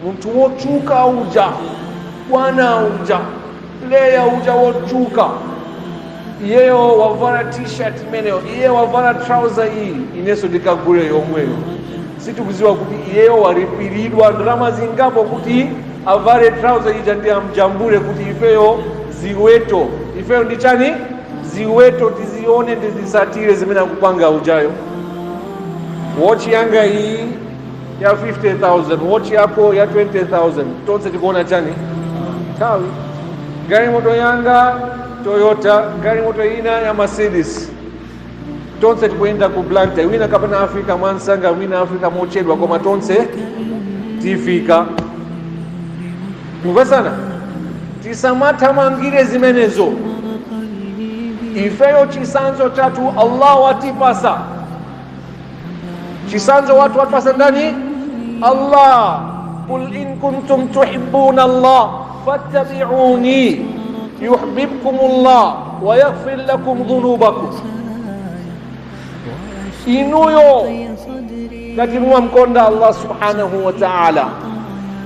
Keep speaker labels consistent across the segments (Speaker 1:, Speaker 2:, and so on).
Speaker 1: munthu wotchuka uja bwana uja player uja wotchuka iyeyo wavala t-shirt imeneyo iye wavala trouser iyi inenso ndikagule yomweyo sitikudziwa kuti iyeyo walipiridwa ndalama zingapo kuti avale trouser ija ndi amjambule kuti ifeyo ziweto ifeyo ndi chani ziweto tizione tizitsatire zimene akupanga ujayo watch yanga iyi ya 50000 watch yako ya 20000 tonse tikuona chani nthawi galimoto yanga toyota galimoto ina ya mercedes tonse tikuyenda ku blantyre wina kapena afika mwansanga wina afika mochedwa koma tonse tifika tikumvetsana tisamathamangire zimenezo ifeyo chitsanzo chathu allah watipasa Chisanzo watu watu wasangani Allah qul in kuntum tuhibbuna Allah fattabi'uni yuhibbukum Allah wa yaghfir lakum dhunubakum inuyo ngati mumamkonda Allah subhanahu wa ta'ala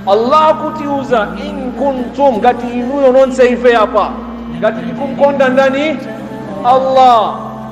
Speaker 1: Allah akutiuza in kuntum ngati inuyo nonse ife apa ngati tikumkonda ndani Allah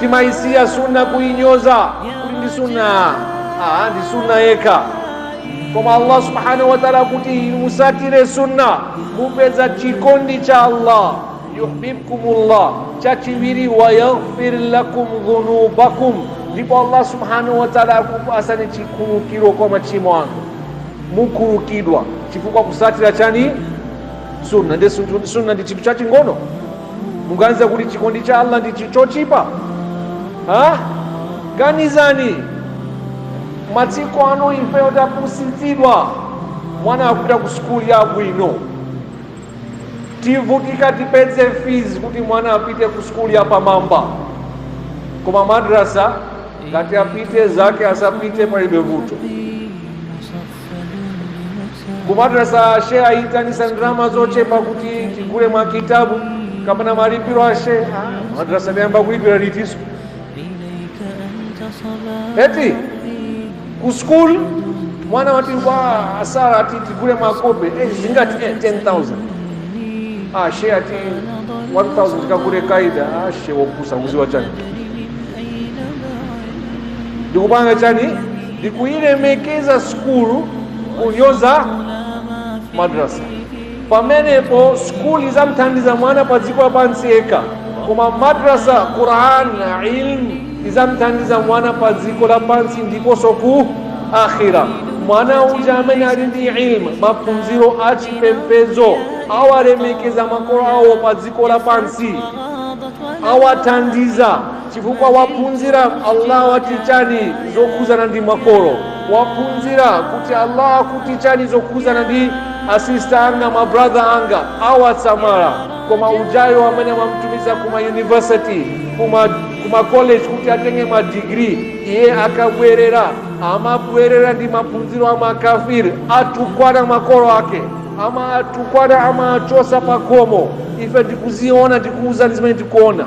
Speaker 1: timayisiya sunna kuinyoza kuti ndi sunna ah, ndi sunna yekha koma allah subhanahu wa taala akuti mutsatire sunna mupeza chikondi cha allah yuhbibkumullah chachiwiri wayaghfir lakum dhunubakum ndipo allah subhanahu wa taala akupatsani chikhululukiro kwa machimo anu mukhululukidwa chifukwa cha kutsatira chani sunna ndi sunna ndi chinthu chaching'ono muganiza kuti chikondi cha allah ndi chi- chotchipa ha ganizani masiku ano ifeyo tapusitsidwa mwana akapita ku sukulu yabwino tivutika tipeze fees kuti mwana apite ku sukulu yapamwamba koma madrasa ngati apite zake asapite palibe vuto kumadrasa she ayitanisa ndalama zochepa kuti tigule mwa kitabu kapena malipiro ashe madrasa nayamba kulipira litiso eti ku school mwana wati kwa asara ati tigule makope eh, zingati eh, 10000 ah she ati 1000 kakule kaida ah she wakusa uziwa chani ndikupanga chani ndikuyilemekeza sukulu kunyoza madrasa pamenepo sukulu izamthandiza mwana pa dziko lapansi yekha koma madrasa quran na ilmu izamthandiza mwana pa dziko lapansi ndiponso ku akhira mwana uja amene ali ndi ilmu maphunziro a chipembedzo awalemekeza makolo awo pa dziko lapansi awathandiza chifukwa waphunzira allah wati chani zokhudzana ndi makolo waphunzira kuti allah akuti chani zokhudzana ndi asista anga mabrother anga awasamala koma ujayo amene amamtumiza kuma university kuma kuma college kuti atenge ma degree iye akabwerera amabwerera ndi maphunziro a makafiri atukwana makolo ake amawatukwana amawachotsa pakhomo ife tikuziona tikuuzani zimene tikuona